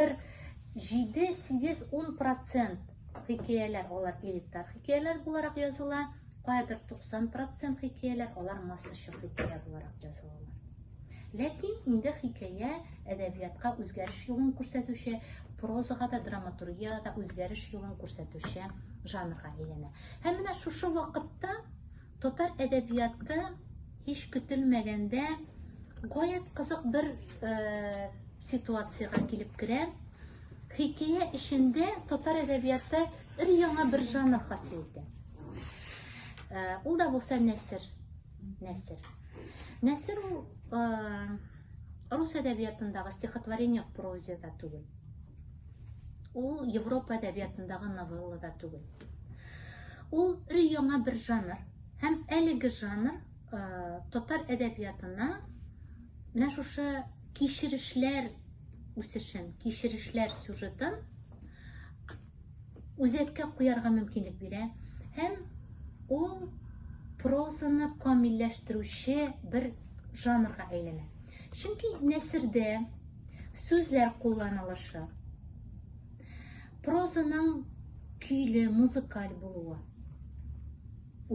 бер җиде, сигез, ун процент хикәяләр алар элитар хикәяләр буларак языла, каядыр 90 процент хикәяләр алар массачыл хикәя буларак язылалар. Ләкин инде хикәя әдәбиятка үзгәреш юлын күрсәтүче, прозага да, драматургиягә да үзгәреш юлын күрсәтүче жанрга әйләнә. Һәм менә шушы вакытта Татар әдәбиятта һич көтелмәгәндә гаять кызык бер ситуациягә килеп керә. Хикәя эчендә татар әдәбиятта өр яңа бер жанр хасил итә. Ул да булса нәсер. Нәсер. Нәсер ул рус әдәбиятындагы стихотворение проза да түгел. Ул Европа әдәбиятындагы новелла да түгел. Ул яңа бер жанр. Һәм әлеге жанр э, татар әдәбиятына менә шушы кичерешләр үсешен, кичерешләр сюжетын үзәккә куярга мөмкинлек бирә. Һәм ул прозаны камилләштерүче бер жанрга әйләнә. Чөнки нәсердә сүзләр кулланылышы, Прозаның көйле, музыкаль булуы,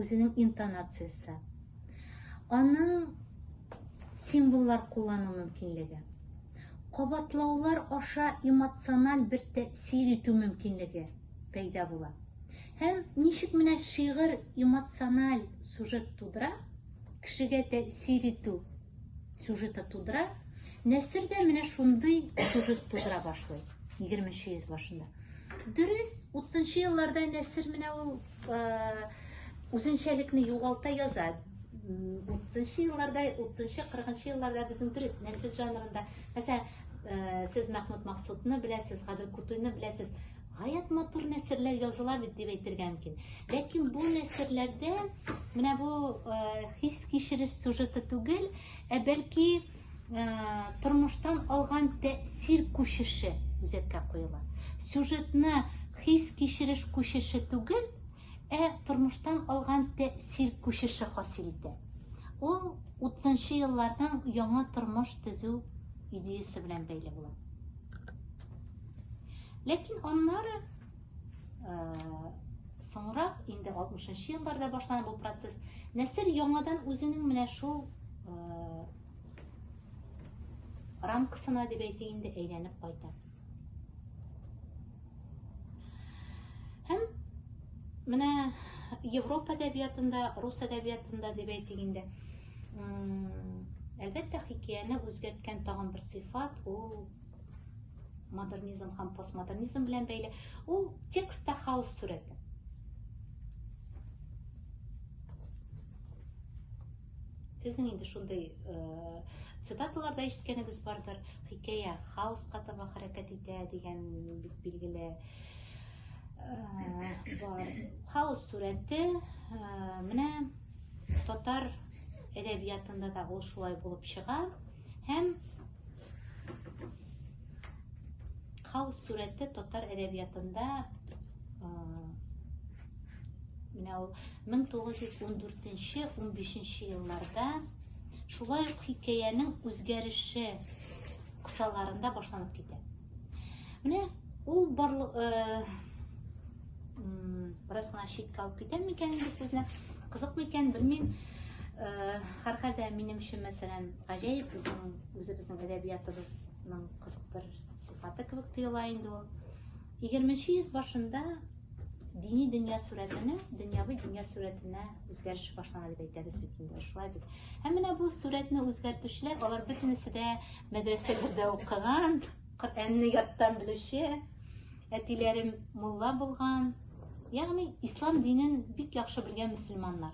үзенең интонациясе, аның символлар куллану мөмкинлеге, кабатлаулар аша эмоциональ бер тәэсир итү мөмкинлеге пәйда була. Һәм ничек менә шигырь эмоциональ сюжет тудыра, кешегә тәэсир итү сюжеты тудыра. Нәсер дә менә шундый сюжет тудыра башлый 20-нче йөз башында. Дөрес, 30-нчы елларда Нәсер менә ул үзенчәлекне югалта яза. 30-нчы елларда, 30-нчы, 40-нчы елларда безнең дөрес нәсел жанрында, мәсәлән, сез Мәхмүд Максутны беләсез, Гадел Кутуйны беләсез. Гаять матур нәсерләр языла бит дип әйтергә мөмкин. Ләкин бу нәсерләрдә менә бу э, хис кичереш сюжеты түгел, ә бәлки э, тормыштан алган тәэсир күчеше үзәккә куела. Сюжетны хис кичереш күчеше түгел, ә тормыштан алган тәэсир күчеше хасил итә. Ул 30 елларның яңа тормыш төзү идеясы белән бәйле була. Ләкин аннары соңрак инде 60 елларда башлана бу процесс. Нәсер яңадан үзенең менә шул рамкасына дип әйтик инде әйләнеп кайта. Һәм менә Европа әдәбиятында, рус әдәбиятында дип әйтик инде. Әлбәттә, хикәяне үзгәрткән тагын бер сыйфат ул модернизм һәм постмодернизм белән бәйле ул текстта хаос сурәте сезнең инде шундый э, цитаталарда ишеткәнегез бардыр хикәя хаоска таба хәрәкәт итә дигән бик билгеле э, бар хаос сурәте э, менә татар әдәбиятында да ул шулай булып чыга Һәм хаос сурәте татар әдәбиятында менә ул 1914-15 елларда шулай ук хикәянең үзгәреше кысаларында башланып китә. Менә ул барлык Бераз гына читкә алып китәм микән инде сезне? Кызыкмы икән, белмим. Һәрхәлдә минем өчен, мәсәлән, гаҗәеп безнең үзебезнең әдәбиятыбызның кызык бер сыйфаты кебек тоела инде ул. 20-нче йөз башында дини дөнья сурәтенә, дөньяви дөнья сурәтенә үзгәреш башлана дип әйтәбез бит инде, шулай бит. Һәм менә бу сурәтне үзгәртүчеләр, алар бөтенесе дә мәдрәсәләрдә укыган, Коръәнне яттан белүче, Әтиләрем мулла булган, ягъни ислам динен бик яхшы белгән мөселманнар.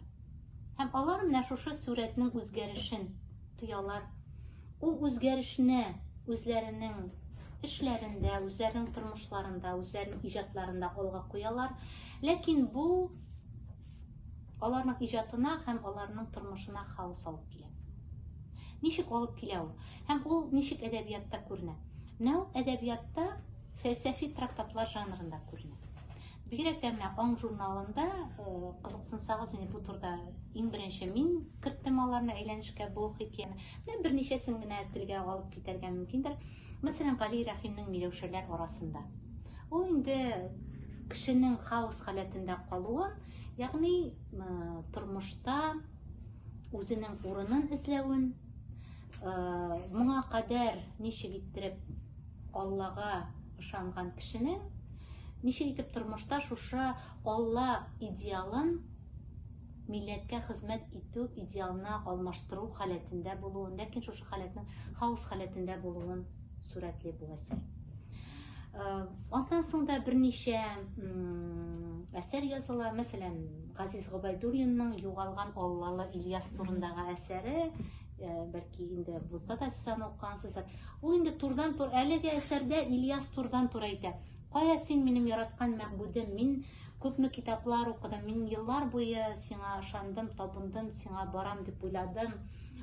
Һәм алар менә шушы сурәтнең үзгәрешен тоялар. Ул үзгәрешне үзләренең эшләрендә, үзләренең тормышларында, үзләренең иҗатларында алга куялар. Ләкин бу аларның иҗатына һәм аларның тормышына хаос алып килә. Ничек алып килә ул? Һәм ул ничек әдәбиятта күренә? Менә ул әдәбиятта фәлсәфи трактатлар жанрында күренә. Бигрәк тә менә Аң журналында э, кызыксынсагыз, инде бу турыда иң беренче мин керттем аларны әйләнешкә бу хикәяне. Менә берничәсен генә телгә алып китәргә мөмкиндер. Мәсәлән, Гали Рәхимнең Миләүшәләр арасында. Ул инде кешенең хаос халәтендә калуын, ягъни э, тормышта үзенең урынын эзләвен, Моңа кадәр ничек иттереп Аллага ышанган кешенең ничек итеп тормышта шушы Алла идеалын милләткә хезмәт итү идеалына алмаштыру халәтендә булуын, ләкин шушы халәтнең хаос халәтендә булуын сурәтли бу әсәр. Аннан соң да берничә әсәр языла, мәсәлән, Газиз Гобайдуллинның Югалган Аллалы Ильяс турындагы әсәре Ә, бәлки инде булса да сез аны укыгансыздыр. Ул инде турдан-тур әлеге әсәрдә Ильяс турдан-тур әйтә. Кая син минем яраткан мәгъбүдем? Мин күпме китаплар укыдым, мин еллар буе сиңа ышандым, табындым, сиңа барам дип уйладым.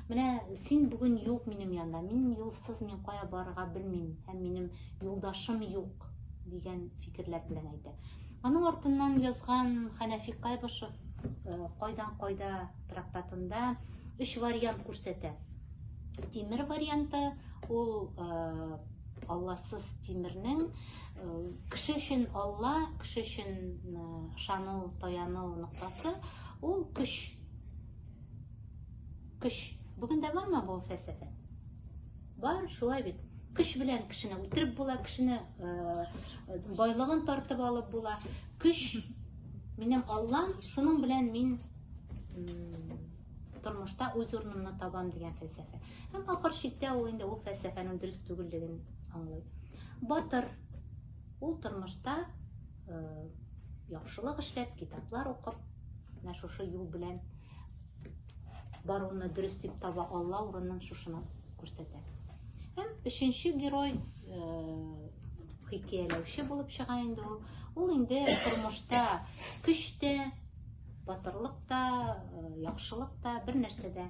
Менә син бүген юк минем янда, мин юлсыз мин кая барырга белмим һәм минем юлдашым юк дигән фикерләр белән әйтә. Аның артыннан язган Хәнәфи Кайбышев кайдан кайда трактатында өч вариант күрсәтә. Тимер варианты ул алласыз тимернең кеше өчен алла, кеше өчен ышану, таяну ноктасы ул көч. Көч. Бүген дә бармы бу фәлсәфә? Бар, шулай бит. Көч белән кешене үтереп була, кешене байлыгын тартып алып була. Көч минем Аллам, шуның белән мин тормышта үз урынымны табам дигән фәлсәфә. Һәм ахыр чиктә ул инде ул фәлсәфәнең дөрес түгеллеген аңлый. Батыр ул тормышта яхшылык эшләп, китаплар укып, менә шушы юл белән баруны дөрес дип таба алла урынын шушыны күрсәтә һәм өченче герой хикәяләүче булып чыга инде ул ул инде тормышта көч тә батырлык та яхшылык та бер нәрсәдә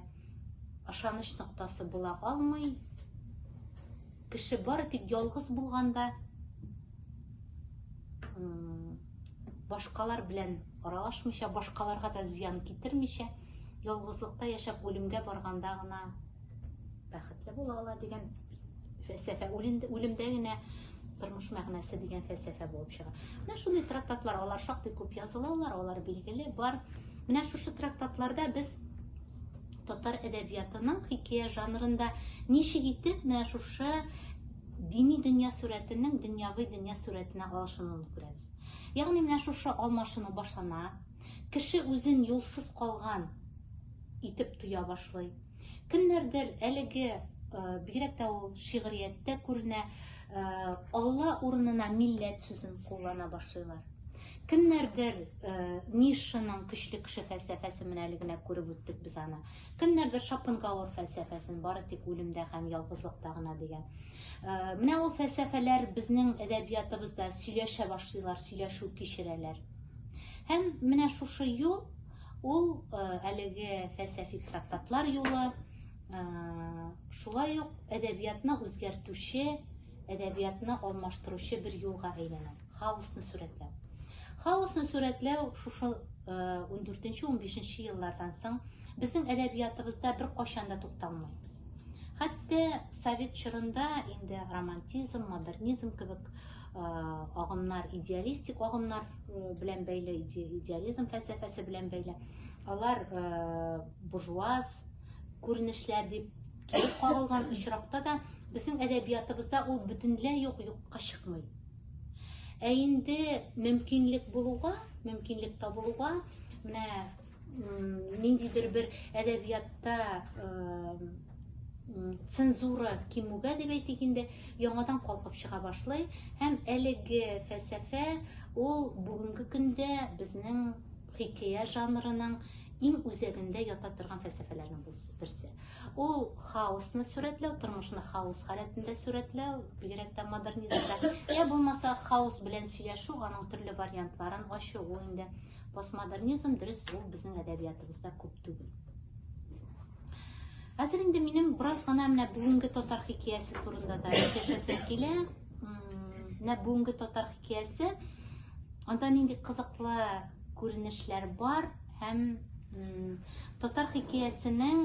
ышаныч ноктасы була алмый кеше бары тик ялгыз булганда башкалар белән аралашмыйча, башкаларга да зыян китермичә, ялгызлыкта яшәп үлемгә барганда гына бәхетле була ала дигән фәлсәфә. Үлемдә генә тормыш мәгънәсе дигән фәлсәфә булып чыга. Менә шундый трактатлар, алар шактый күп язылалар, алар билгеле бар. Менә шушы трактатларда без татар әдәбиятының хикәя жанрында ничек итеп менә шушы Дини дөнья сурәтенең дөньяви дөнья сурәтенә алышынуын күрәбез. Ягъни менә шушы алмашыну башлана, кеше үзен юлсыз калган итеп тоя башлый. Кемнәрдер әлеге э, бигрәк тә ул шигърияттә күренә, э, Алла урынына милләт сүзен куллана башлыйлар. Кемнәрдер э, Нишшаның көчле кеше фәлсәфәсе менә әле генә күреп үттек без аны. Кемнәрдер Шопенгауэр фәлсәфәсен бары тик үлемдә һәм ялгызлыкта гына дигән. Э, менә ул фәлсәфәләр безнең әдәбиятыбызда сөйләшә башлыйлар, сөйләшү кичерәләр. Һәм менә шушы юл ул э, әлеге фәлсәфи трактатлар юлы, э, шулай ук әдәбиятны үзгәртүче, әдәбиятны алмаштыручы бер юлга әйләнә. Хаосны сурәтләү. Хаосны сурәтләү шушы 14-15 э, еллардан соң безнең әдәбиятыбызда бер кайчан да тукталмый. Хәтта совет чорында инде романтизм, модернизм кебек э, агымнар, идеалистик агымнар э, белән бәйле, идеализм фәлсәфәсе белән бәйле. Алар э, буржуаз күренешләр дип килеп кагылган очракта да безнең әдәбиятыбызда ул бөтенләй юк юкка чыкмый. Ә инде мөмкинлек булуга, мөмкинлек табылуга, менә ниндидер бер әдәбиятта цензура кимүгә дип әйтик инде, яңадан калкып чыга башлый һәм әлеге фәлсәфә ул бүгенге көндә безнең Хикәя жанрының иң үзәгендә ята торган фәлсәфәләрнең берсе. Ул хаосны сурәтләү, тормышны хаос халәтендә сурәтләү, бигрәк тә модернизмда. Йә булмаса, хаос белән сөйләшү, аның төрле вариантларын ачу, ул инде постмодернизм, дөрес, ул безнең әдәбиятыбызда күп түгел. Хәзер инде минем бераз гына менә бүгенге татар хикәясе турында да сөйләшәсем килә. Менә бүгенге татар хикәясе. Анда нинди кызыклы күренешләр бар һәм татар хикәясенең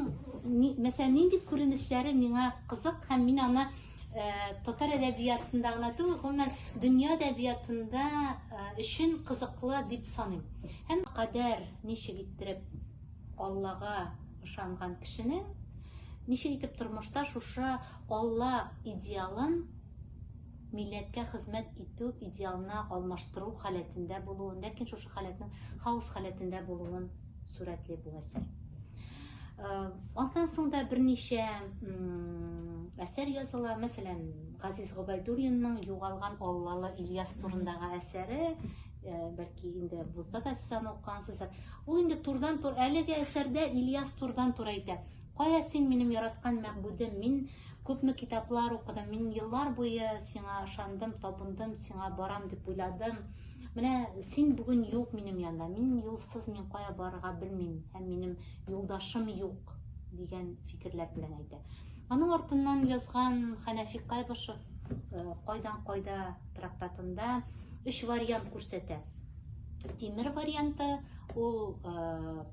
мәсәлән нинди күренешләре миңа кызык һәм мин аны э, татар әдәбиятында гына түгел, гомумән дөнья әдәбиятында э, өчен кызыклы дип саныйм. Һәм кадәр ничек иттереп Аллага ышанган кешенең ничек итеп тормышта шушы Алла идеалын милләткә хезмәт итү идеалына алмаштыру халәтендә булуын, ләкин шушы халәтнең хаос халәтендә булуын сурәтли бу әсәр. Аннан соң да берничә әсәр языла, мәсәлән, Газиз Гобайдуллинның Югалган Аллалы Ильяс турындагы әсәре, бәлки инде вузда да сез аны укыгансыздыр. Ул инде турдан-тур әлеге әсәрдә Ильяс турдан-тур әйтә. Кая син, минем яраткан мәгъбүдем, мин күпме китаплар укыдым, мин еллар буе сиңа ышандым, табындым, сиңа барам дип уйладым. Менә син бүген юк минем янда, мин юлсыз мин кая барырга белмим, һәм минем юлдашым юк, дигән фикерләр белән әйтә. Аның артыннан язган Хәнәфи Кайбышев э, кайдан кайда трактатында өч вариант күрсәтә. Тимер варианты ул э,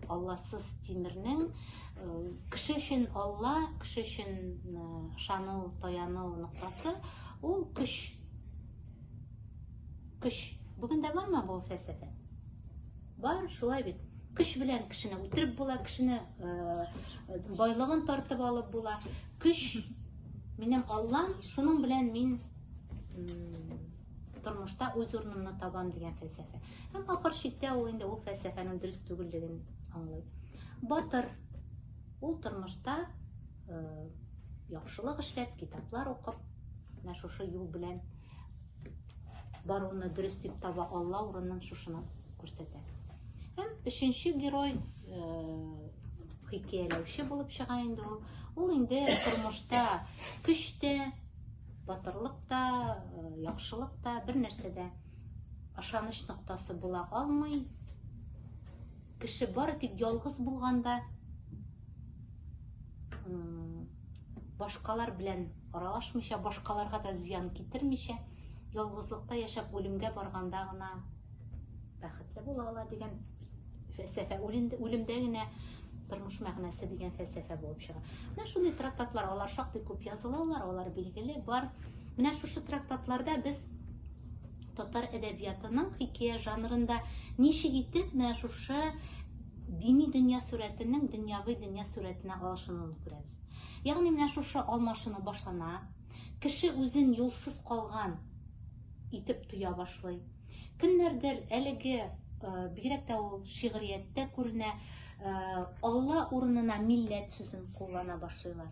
Алласыз тимернең кеше өчен Алла, кеше өчен ышану, таяну ноктасы ул көч. Көч. Бүген дә бармы бу фәлсәфә? Бар, шулай бит. Көч белән кешене үтереп була, кешене байлыгын тартып алып була. Көч минем Аллам, шуның белән мин тормышта үз урынымны табам дигән фәлсәфә. Һәм ахыр чиктә ул инде ул фәлсәфәнең дөрес түгеллеген аңлый. Батыр ул тормышта э, яхшылык эшләп, китаплар укып, менә шушы юл белән баруны дөрес дип таба Алла урынын шушына күрсәтә. Һәм өченче герой э, хикәяләүче булып чыга инде ул. Ул инде тормышта көч тә, Батырлык та, э, яхшылык та бер нәрсәдә ышаныч ноктасы була алмый. Кеше бары тик ялгыз булганда башкалар белән аралашмыйча, башкаларга да зыян китермичә, ялгызлыкта яшәп үлемгә барганда гына Бәхетле була ала дигән фәлсәфә, үлемдә генә тормыш мәгънәсе дигән фәлсәфә булып чыга. Менә шундый трактатлар, алар шактый күп язылалар, алар билгеле бар. Менә шушы трактатларда без татар әдәбиятының хикәя жанрында ничек итеп менә шушы дини дөнья сурәтенең дөньяви дөнья сурәтенә алышынуын күрәбез. Ягъни менә шушы алмашыну башлана, кеше үзен юлсыз калган итеп тоя башлый. Кемнәрдер әлеге э, бигрәк тә ул шигърияттә күренә, э, Алла урынына милләт сүзен куллана башлыйлар.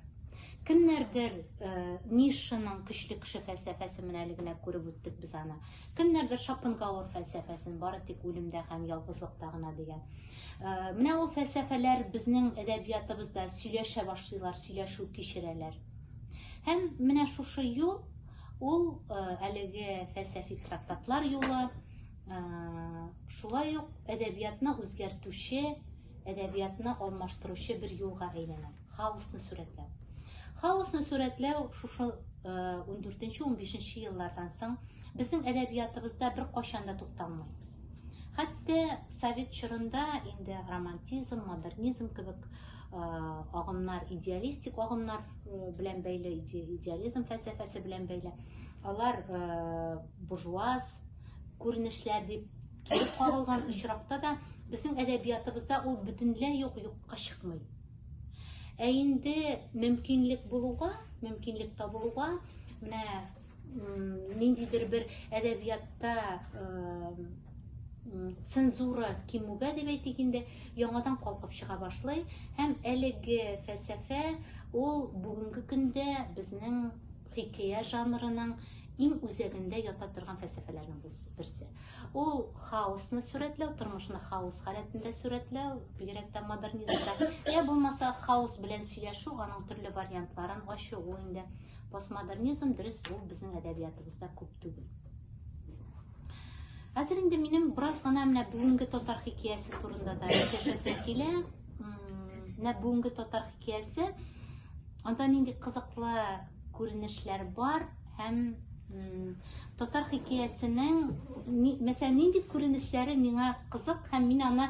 Кемнәрдер э, Нишшаның көчле кеше фәлсәфәсе менә әле генә күреп үттек без аны. Кемнәрдер Шопенгауэр фәлсәфәсен бары тик үлемдә һәм ялгызлыкта гына дигән. Менә ул фәлсәфәләр безнең әдәбиятыбызда сөйләшә башлыйлар, сөйләшү кичерәләр. Һәм менә шушы юл Ул әлеге фәлсәфи трактатлар юлы, шулай ук әдәбиятны үзгәртүче, әдәбиятны алмаштыручы бер юлга әйләнә, хаосны сурәтләү. Хаосны сурәтләү шушы 14-15 еллардан соң безнең әдәбиятыбызда бер кайчан да тукталмый. Хәтта совет чорында инде романтизм, модернизм кебек агымнар, идеалистик агымнар белән бәйле, идеализм фәлсәфәсе белән бәйле. Алар буржуаз күренешләр дип килеп кагылган очракта да безнең әдәбиятыбызда ул бөтенләй юк юкка чыкмый. Ә инде мөмкинлек булуга, мөмкинлек табылуга, менә ниндидер бер әдәбиятта цензура кимүгә дип әйтик инде яңадан калкып чыга башлый һәм әлеге фәлсәфә ул бүгенге көндә безнең хикәя жанрының иң үзәгендә ята торган фәлсәфәләрнең берсе ул хаосны сурәтләү тормышны хаос халәтендә сурәтләү бигрәк тә модернизмда я булмаса хаос белән сөйләшү аның төрле вариантларын ачу ул инде постмодернизм дөрес ул безнең әдәбиятыбызда күп түгел хәзер инде минем бераз гына менә бүгенге татар хикәясе турында да сөйләшәсем килә менә бүгенге татар хикәясе анда нинди кызыклы күренешләр бар һәм татар хикәясенең мәсәлән нинди күренешләре миңа кызык һәм мин аны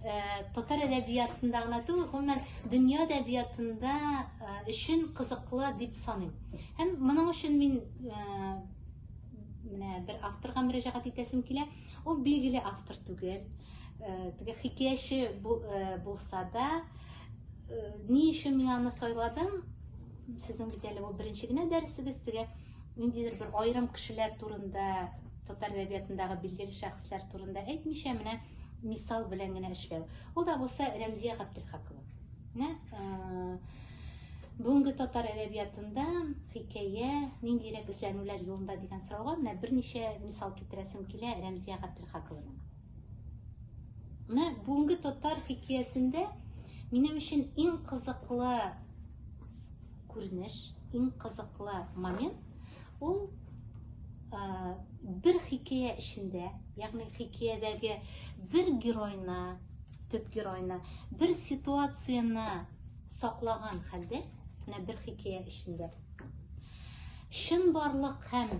Э, татар әдәбиятында гына түгел гомумән дөнья әдәбиятында э, өчен кызыклы дип саныйм һәм моның өчен мин э, менә бер авторга мөрәҗәгать итәсем килә ул билгеле автор түгел теге хикәяче булса да ни өчен мин аны сайладым сезнең бит әле бу беренче генә дәресегез теге ниндидер бер аерым кешеләр турында татар әдәбиятындагы билгеле шәхесләр турында әйтмичә менә мисал белән генә эшләү. Ул да булса Рәмзия Габделхакова. Менә э, бүгенге татар әдәбиятында хикәя ниндирәк эзләнүләр юлында дигән сорауга менә берничә мисал китерәсем килә Рәмзия Габделхакованың. Менә бүгенге татар хикәясендә минем өчен иң кызыклы күренеш, иң кызыклы момент Ул бер хикәя эчендә, ягъни хикәядәге бер геройна, төп геройна, бер ситуацияне саклаган хәлдә, менә бер хикәя эчендә. Чын барлык һәм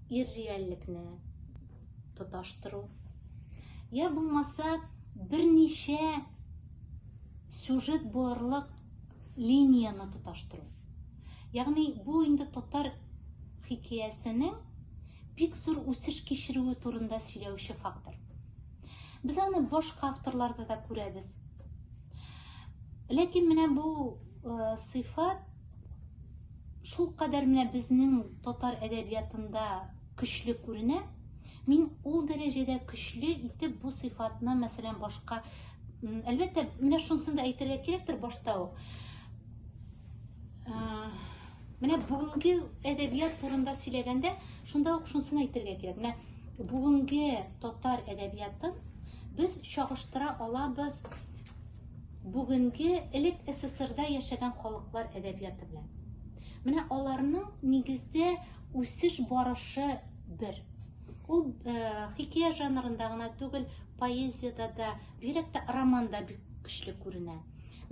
ирреальлекне тоташтыру. Я булмаса, берничә сюжет булырлык линияне тоташтыру. Ягъни бу инде татар хикәясенең бик зур үсеш кичерүе турында сөйләүче фактор. Без аны башка авторларда да күрәбез. Ләкин менә бу э, сыйфат шул кадәр менә безнең татар әдәбиятында көчле күренә. Мин ул дәрәҗәдә көчле итеп бу сыйфатны, мәсәлән, башка әлбәттә, менә шунысын да әйтергә кирәктер башта ук. Менә бүгенге әдәбият турында сөйләгәндә, шунда ук шунысын әйтергә кирәк. Менә бүгенге татар әдәбиятын без чагыштыра алабыз бүгенге элек СССРда яшәгән халыклар әдәбияты белән. Менә аларның нигездә Үсеш барышы бер. Ул хикәя жанрында гына түгел, поэзиядә дә, бигрәк тә романда бик көчле күренә.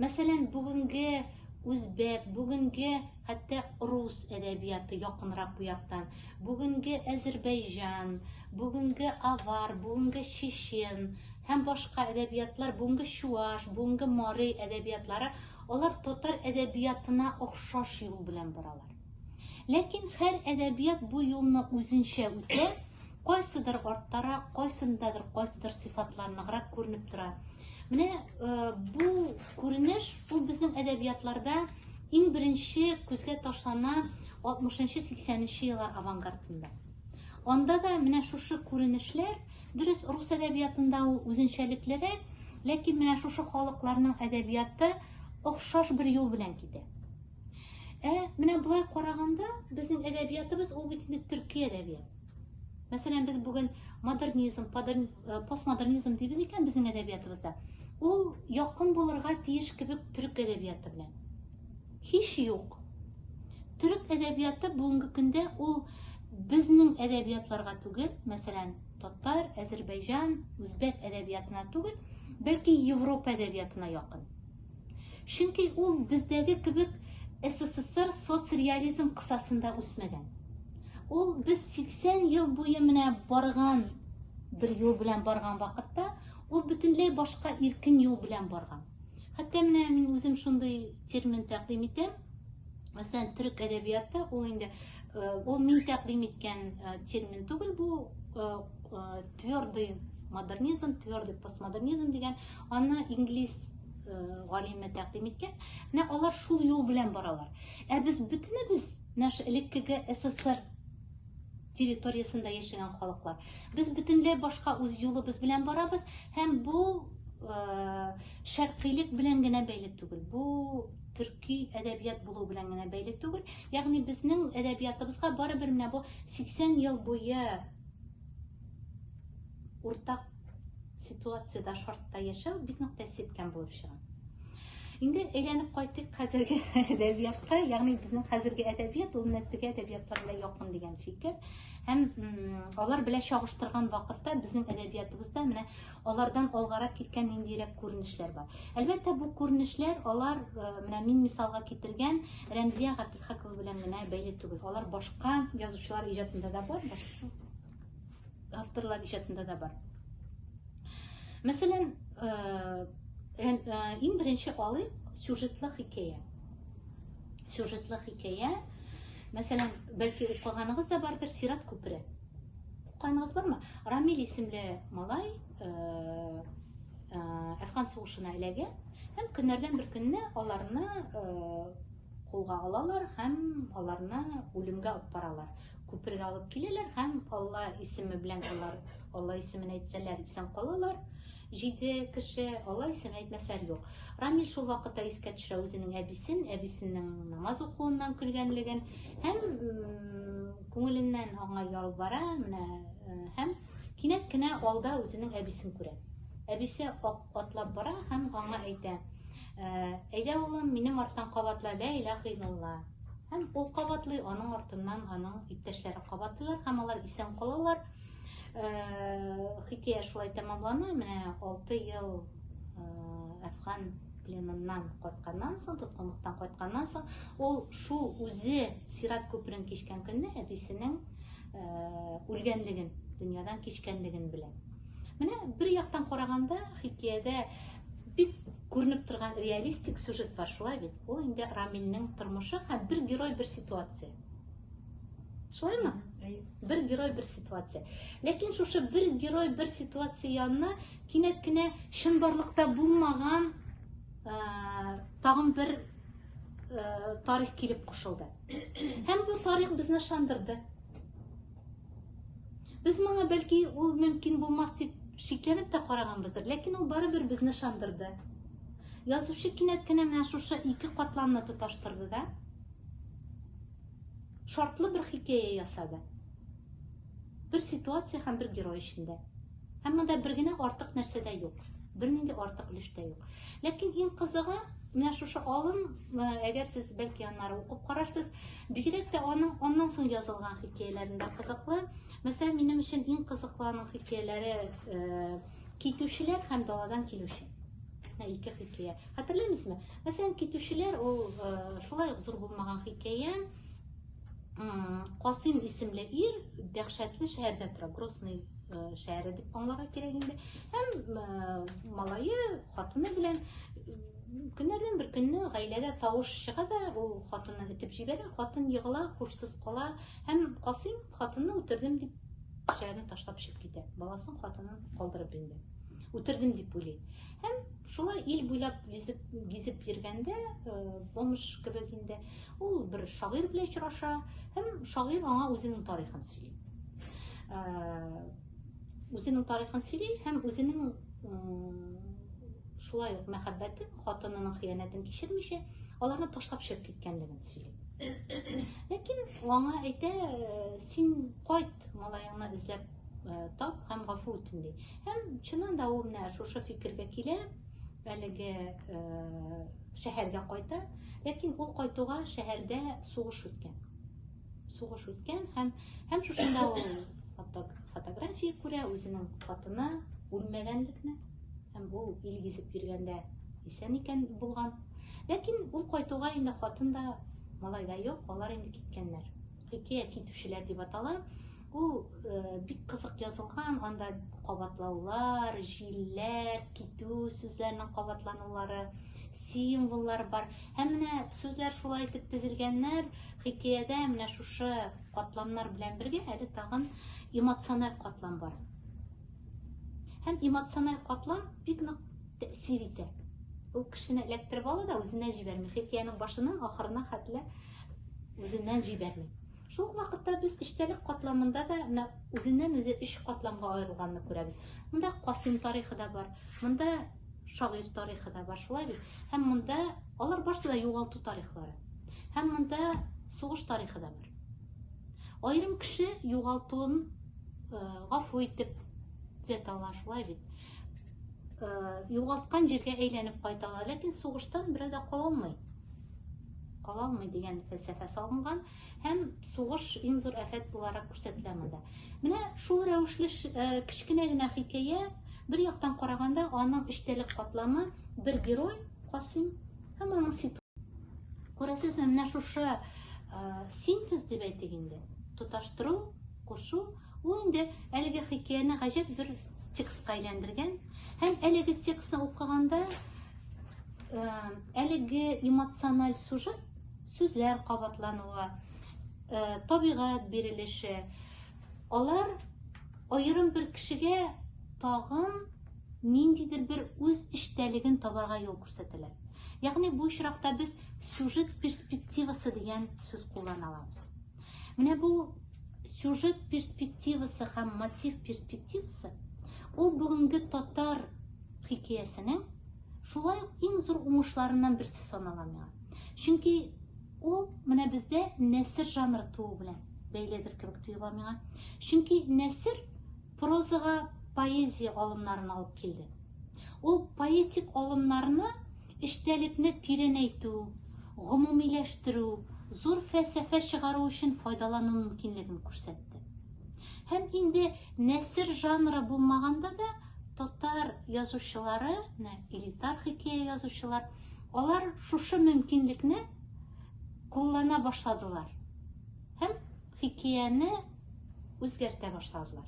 Мәсәлән, бүгенге үзбәк, бүгенге хәтта рус әдәбияты якынрак бу яктан. Бүгенге Әзербайҗан, бүгенге авар, бүгенге чечен һәм башка әдәбиятлар, бүгенге чуаш, бүгенге марый әдәбиятлары, алар татар әдәбиятына охшаш юл белән баралар. Ләкин һәр әдәбият бу юлны үзенчә үтә, кайсыдыр арттарак, кайсындадыр кайсыдыр сыйфатларныграк күренеп тора. Менә э, бу күренеш ул безнең әдәбиятларда иң беренче күзгә ташлана 60-80 еллар авангардында. Анда да менә шушы күренешләр, дөрес рус әдәбиятында ул үзенчәлеклерәк, ләкин менә шушы халыкларның әдәбияты охшаш бер юл белән китә. Ә менә болай караганда, безнең әдәбиятыбыз ул бит инде төрки әдәбият. Мәсәлән, без бүген модернизм, э, постмодернизм дибез икән безнең әдәбиятыбызда. Ул якын булырга тиеш кебек төрек әдәбияты белән. Һич юк. Төрек әдәбияты бүгенге көндә ул безнең әдәбиятларга түгел, мәсәлән, татар, әзербайҗан, үзбәк әдәбиятына түгел, бәлки Европа әдәбиятына якын. Чөнки ул бездәге кебек СССР соцреализм кысасында үсмәгән. Ул без 80 ел буе менә барган бер юл белән барган вакытта, ул бөтенләй башка иркен юл белән барган. Хәтта менә мин үзем шундый термин тәкъдим итәм. Мәсәлән, төрек әдәбиятта ул инде э, ул мин тәкъдим иткән э, термин түгел, бу э, твердый модернизм, твердый постмодернизм дигән Аны инглиз э, галиме тәкъдим иткән. Менә алар шул юл белән баралар. Ә без бөтенебез наш элеккеге СССР территориясендә яшәгән халыклар. Без бөтенләй башка үз юлыбыз белән барабыз һәм бу э, шәркыйлек белән генә бәйле түгел. Бу төрки әдәбият булу белән генә бәйле түгел. Ягъни безнең әдәбиятыбызга барыбер менә бу 80 ел буе уртак ситуацияда шартта яшәү бик нык тәэсир иткән булып чыга инде әйләнеп кайтыйк хәзерге әдәбиятка ягъни безнең хәзерге әдәбият ул менә теге әдәбиятлар белән якын дигән фикер һәм алар белән чагыштырган вакытта безнең әдәбиятыбызда менә алардан алгарак киткән ниндирәк күренешләр бар әлбәттә бу күренешләр алар э, менә мин мисалга китергән рәмзия габделхакова белән генә бәйле түгел алар башка язучылар иҗатында да бар башка авторлар иҗатында да бар мәсәлән иң беренче алыйк сюжетлы хикәя сюжетлы хикәя мәсәлән бәлки укыганыгыз да бардыр сират күпере укыганыгыз бармы рамил исемле малай Э, әфган сугышына эләгә һәм көннәрдән бер көнне аларны э, Кулга алалар һәм аларны үлемгә алып баралар. Күпергә алып киләләр һәм Алла исеме белән алар Алла исемен әйтсәләр исән калалар. Җиде кеше Алла исемен әйтмәсәләр юк. Рамил шул вакытта искә төшерә үзенең әбисен, әбисенең намаз укуыннан көлгәнлеген һәм күңеленнән аңа ялвара, менә һәм кинәт кенә алда үзенең әбисен күрә. Әбисе атлап бара һәм аңа әйтә, Ә, әйдә, улым, минем арттан кабатла лә иләһ илалла. Һәм ул кабатлый, аның артыннан аның иптәшләре кабатлыйлар һәм алар исән калалар. Ә, хикәя шулай тәмамлана. Менә 6 ел әфган пленыннан кайтканнан соң, тоткынлыктан кайтканнан соң, ул шул үзе сират күперен кичкән көнне әбисенең э, үлгәнлеген, дөньядан кичкәнлеген белә. Менә бер яктан караганда хикәядә Бик күренеп торган реалистик сюжет бар, шулай бит? Ул инде Рамилнең тормышы һәм бер герой бер ситуация. Шулаймы? Бер герой бер ситуация. Ләкин шушы бер герой бер ситуация янына кинәт кенә чынбарлыкта булмаган тагын бер тарих килеп кушылды. Һәм бу тарих безне шандырды. Без моңа бәлки ул мөмкин булмас дип шикләнеп тә караганбыздыр, ләкин ул барыбер безне шандырды. Язучы кинәт кенә менә шушы ике катламны тоташтырды да шартлы бер хикәя ясады. Бер ситуация һәм бер герой эчендә. Һәм монда бер генә артык нәрсә дә юк. Бернинди артык өлеш тә юк. Ләкин иң кызыгы, менә шушы алым, әгәр сез бәлки аннары укып карарсыз, Бигрәк тә аның аннан соң язылган хикәяләрендә кызыклы. Мәсәлән, минем өчен иң кызыклы аның хикәяләре э, Китүчеләр һәм даладан килүче. Ике хикәя. Хәтерләмисезме? Мәсәлән, Китүчеләр ул э, шулай ук зур булмаган хикәя. Касыйм исемле ир дәһшәтле шәһәрдә тора, Грозный э, шәһәре дип аңларга кирәк инде. Һәм э, малае хатыны белән Көннәрдән бер көнне гаиләдә тавыш чыга да, ул хатынны этеп җибәрә, хатын егыла, һушсыз кала һәм Касыйм хатынны үтердем дип шәһәрне ташлап чыгып китә. Баласын, хатынын калдырып инде. Үтердем дип уйлый. Һәм шулай ил буйлап гизеп, гизеп йөргәндә, э, бомж кебек инде, ул бер шагыйрь белән очраша һәм шагыйрь аңа үзенең тарихын сөйли. Э, үзенең тарихын сөйли һәм үзенең шулай ук мәхәббәтен, хатынының хыянәтен кичермичә, аларны ташлап чыгып киткәнлеген сөйли. Ләкин аңа әйтә, син кайт, малаеңны эзләп тап һәм гафу үтен ди. Һәм чыннан да ул менә шушы фикергә килә, әлеге шәһәргә кайта, ләкин ул кайтуга шәһәрдә сугыш үткән. сугыш үткән һәм һәм шушында ул фотография күрә үзенең хатыны үлмәгәнлекне һәм ул ил гизеп йөргәндә исән икән булган ләкин ул кайтуга инде хатын да малай да юк алар инде киткәннәр хикәя китүчеләр дип атала Ул бик кызык язылган, анда кабатлаулар, җилләр, китү сүзләренең кабатланулары, символлар бар. Һәм менә сүзләр шулай итеп тезелгәннәр, хикәядә менә шушы катламнар белән бергә әле тагын эмоциональ катлам бар. Һәм эмоциональ катлам бик нык тәэсир итә. Ул кешене эләктереп ала да үзенә җибәрми. Хикәянең башыннан ахырына хәтле үзеннән җибәрми. Шул ук вакытта без эчтәлек катламында да менә үзеннән-үзе өч катламга аерылганны күрәбез. Монда Касыйм тарихы да бар, монда шагыйрь тарихы да бар, шулай бит? Һәм монда алар барысы да югалту тарихлары. Һәм монда сугыш тарихы да бар. Аерым кеше югалтуын гафу итеп төзәтә ала, шулай бит? Югалткан җиргә әйләнеп кайта ала, ләкин сугыштан берәү дә кала алмый. Кала алмый дигән фәлсәфә салынган. Һәм сугыш иң зур афәт буларак күрсәтелә монда. Менә шул рәвешле кечкенә генә хикәя, бер яктан караганда, аның эчтәлек катламы, бер герой, Касыйм, һәм аның ситуациясе. Күрәсезме, менә шушы синтез дип әйтик инде, тоташтыру, кушу, ул инде әлеге хикәяне гаҗәп зур текстка әйләндергән. Һәм әлеге текстны укыганда, әлеге эмоциональ сюжет сүзләр кабатлануы, э, табигать бирелеше, алар аерым бер кешегә тагын ниндидер бер үз эчтәлеген табарга юл күрсәтәләр. Ягъни бу очракта без сюжет перспективасы дигән сүз куллана алабыз. Менә бу сюжет перспективасы һәм мотив перспективасы ул бүгенге татар хикәясенең Шулай ук иң зур уңышларыннан берсе санала миңа. Чөнки ул менә бездә нәсер жанры туу белән бәйледер кебек тоела миңа. Чөнки нәсер прозага поэзия алымнарын алып килде. Ул поэтик алымнарны эчтәлекне тирәнәйтү, гомумиләштерү, зур фәлсәфә чыгару өчен файдалану мөмкинлеген күрсәтте. Һәм инде нәсер жанры булмаганда да Татар язучылары, менә элитар хикәя язучылар, алар шушы мөмкинлекне куллана башладылар һәм хикәяне үзгәртә башладылар.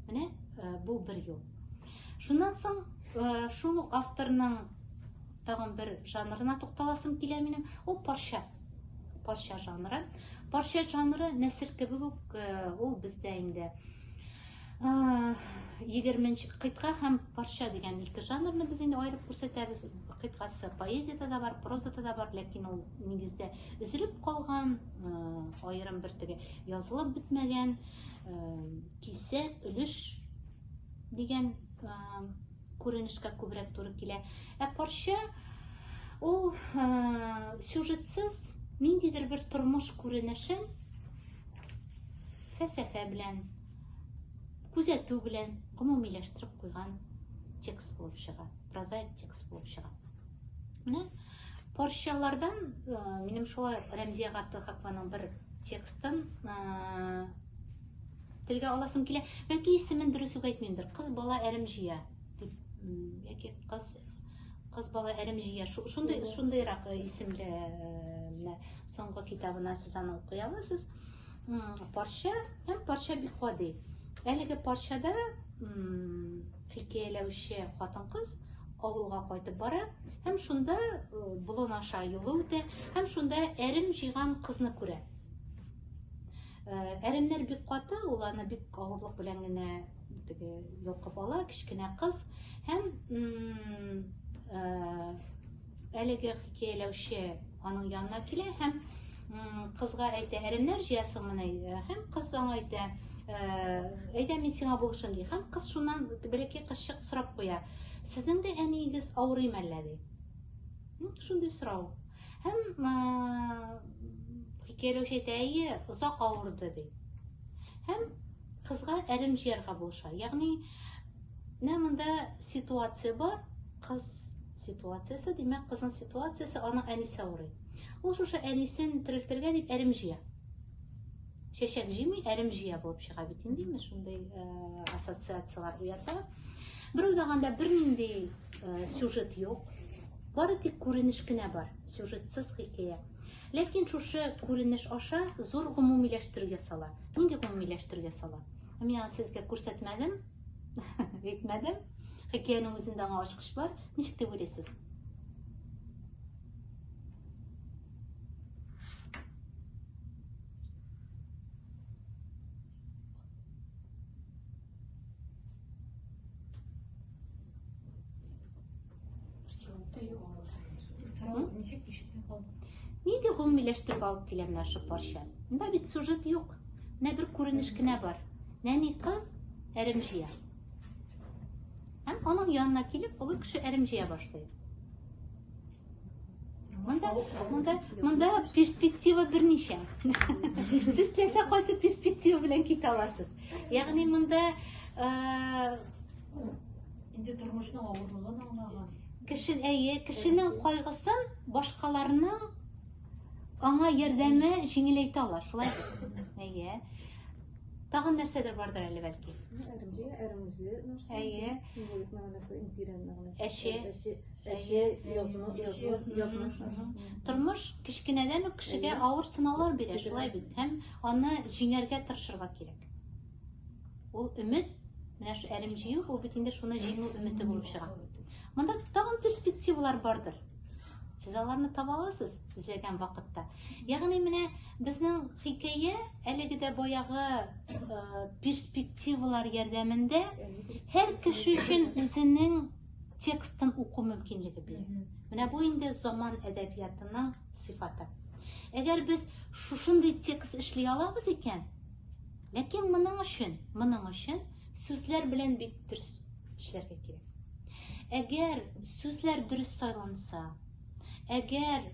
Менә э, бу бер юл. Шуннан соң э, шул ук авторның тагын бер жанрына тукталасым килә минем, ул парча. Парча жанры. Парча жанры нәсер кебек үк э, ул бездә инде Егерменче кыйтга һәм парча дигән ике жанрны без инде аерып күрсәтәбез. Кыйтгасы поэзиядә дә бар, прозада да бар, ләкин ул нигездә өзелеп калган, аерым бер теге язылып бетмәгән кисә өлеш дигән күренешкә күбрәк туры килә. Ә парча ул сюжетсыз ниндидер бер тормыш күренешен фәсәфә белән күзәтү белән гомумиләштереп куйган текст булып чыга, прозаик текст булып чыга. Менә порчалардан э, минем шулай Рәмзия Габдулхакованың бер текстын э, телгә аласым килә. Бәлки исемен дөрес үк әйтмимдер. Кыз бала әрем җыя дип яки кыз кыз бала әрем җыя. Шундый шундыйрак э, исемле менә соңгы китабына сез аны укый аласыз. парча һәм парча бик гади. Әлеге парчада хикәяләүче хатын-кыз авылга кайтып бара һәм шунда болын аша юлы үтә һәм шунда әрем җыйган кызны күрә. Әремнәр бик каты, ул аны бик авырлык белән генә теге йолкып ала, кечкенә кыз һәм Әлеге хикәяләүче аның янына килә һәм кызга әйтә, әрәмнәр җыясыңмыни? Э, һәм кыз аңа әйтә, э, әйдә мин сиңа булышым ди. Һәм кыз шуннан бәләкәй кызчык сорап куя, сезнең дә әниегез авырый мәллә ди. Шундый сорау. Һәм хикәяләүче әйтә, әйе, озак авырды ди. Һәм кызга әрем җыярга булыша. Ягъни, менә монда ситуация бар, кыз Ситуациясе, димәк, кызның ситуациясе, аның әнисе авырый. Ул шушы әнисен терелтергә дип әрем җыя. Чәчәк җыймый, әрем җыя булып чыга бит инде, ме, шундый э, ассоциацияләр уята. Бер уйлаганда бернинди э, сюжет юк. Бары тик күренеш кенә бар, сюжетсыз хикәя. Ләкин шушы күренеш аша зур гомумиләштерүгә сала. Нинди гомумиләштерүгә сала? Мин аны сезгә күрсәтмәдем. Әйтмәдем. Хикәянең үзендә аңа ачкыч бар. Ничек дип уйлыйсыз? Ни дип гомумиләштереп алып килә менә шул парча? Монда бит сюжет юк. Менә бер күренеш кенә бар. Нәни кыз әрем җыя. Һәм аның янына килеп, олы кеше әрем җыя башлый. Монда, монда, монда перспектива берничә. Сез теләсә кайсы перспектива белән китә аласыз. Ягъни монда э, Инде тормышның авырлыгын аңлаган. Кеше, әйе, кешенең кайгысын башкаларның аңа ярдәме җиңеләйтә ала, шулай бит? Әйе. Тагын нәрсәдер бардыр әле бәлки. Әремҗе, әремҗе нәрсә? Әйе. Символик мәгънәсе, империаль мәгънәсе. Әче. Әче, әче, язма, язма, язма. Тормыш кечкенәдән үк кешегә авыр сынаулар бирә, шулай бит? Һәм аны җиңәргә тырышырга кирәк. Ул өмет, менә шу әрем җыю, ул бит инде шуны җиңү өмете булып чыга. Монда тагын перспективалар бардыр. Сез аларны таба аласыз эзләгән вакытта. Ягъни менә безнең хикәя әлеге дә баягы э, перспективалар ярдәмендә һәр кеше өчен үзенең текстын уку мөмкинлеге бирә. Менә бу инде заман әдәбиятының сыйфаты. Әгәр без шушындый текст эшли алабыз икән, Ләкин моның өчен, моның өчен сүзләр белән бик дөрес эшләргә кирәк. Әгәр сүзләр дөрес сайланса, әгәр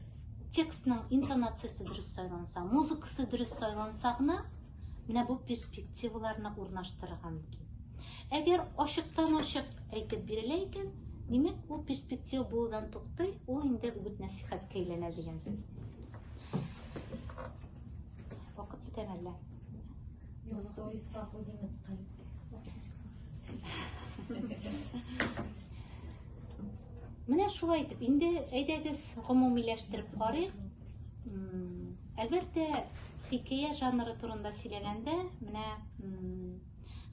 текстның интонациясе дөрес сайланса, музыкасы дөрес сайланса гына, менә бу перспективаларны урнаштырырга мөмкин. Әгәр ачыктан ачык әйтеп бирелә икән, димәк, ул перспектива булудан туктый, ул инде үгет нәсихәткә әйләнә дигән сүз. Вакыт бетәме әллә? Йо, сторис страху димит кай. Менә шулай итеп, инде әйдәгез гомумиләштереп карыйк. Әлбәттә, хикәя жанры турында сөйләгәндә, менә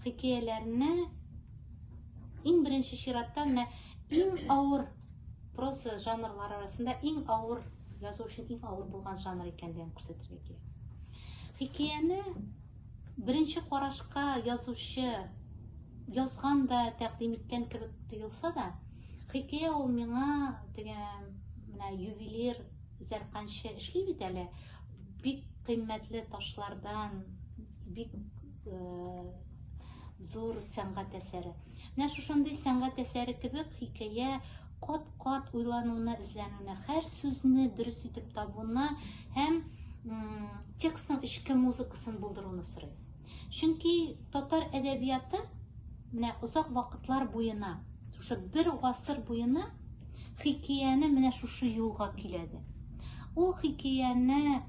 хикәяләрне иң беренче чиратта менә иң авыр проса жанрлары арасында иң авыр язу өчен иң авыр булган жанр икәнлеген күрсәтергә кирәк хикәяне беренче карашка язучы язган да тәкъдим иткән кебек тоелса да хикәя ул миңа теге менә ювелир зәрканчы эшли бит әле бик кыйммәтле ташлардан бик зур сәнгать әсәре. Менә шушындый сәнгать әсәре кебек хикәя кат-кат уйлануына, эзләнүенә, һәр сүзне дөрес итеп табуына һәм текстның эчке музыкасын булдыруны сорый. Чөнки татар әдәбияты менә озак вакытлар буена, шушы бер гасыр буена хикәяне менә шушы юлга киләде. Ул хикәяне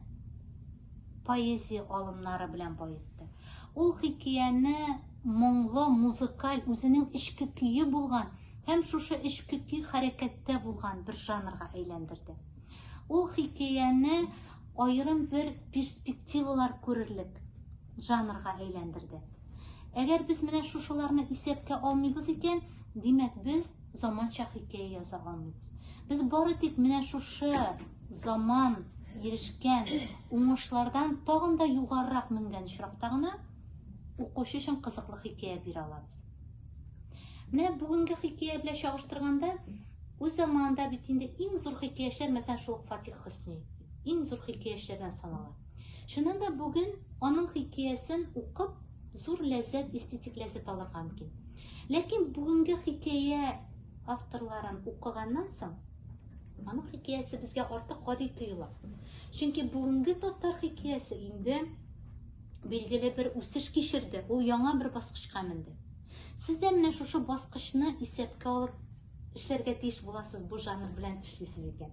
поэзия алымнары белән баетты. Ул хикияне моңлы, музыкаль, үзенең эчке көе булган һәм шушы эчке көй хәрәкәттә булган бер жанрга әйләндерде. Ул хикияне аерым бер перспективалар күрерлек жанрга әйләндерде. Әгәр без менә шушыларны исәпкә алмыйбыз икән, димәк без заманча хикәя яза алмыйбыз. Без бары тик менә шушы Заман ирешкән уңышлардан тагын да югарырак менгән очракта гына укучы өчен кызыклы хикәя бирә алабыз. Менә бүгенге хикәя белән чагыштырганда, үз заманында бит инде иң зур хикәячеләр, мәсәлән, шул Фатих Хөсни, иң зур хикәячеләрдән санала. Шуннан да бүген аның хикәясен укып, зур ләззәт, эстетик ләззәт алырга мөмкин. Ләкин бүгенге хикәя авторларын укыганнан соң, Аның хикәясе безгә артык гади тоела. Чөнки бүгенге татар хикәясе инде билгеле бер үсеш кичерде, ул яңа бер баскычка менде. Сез дә менә шушы баскычны исәпкә алып эшләргә тиеш буласыз, бу жанр белән эшлисез икән.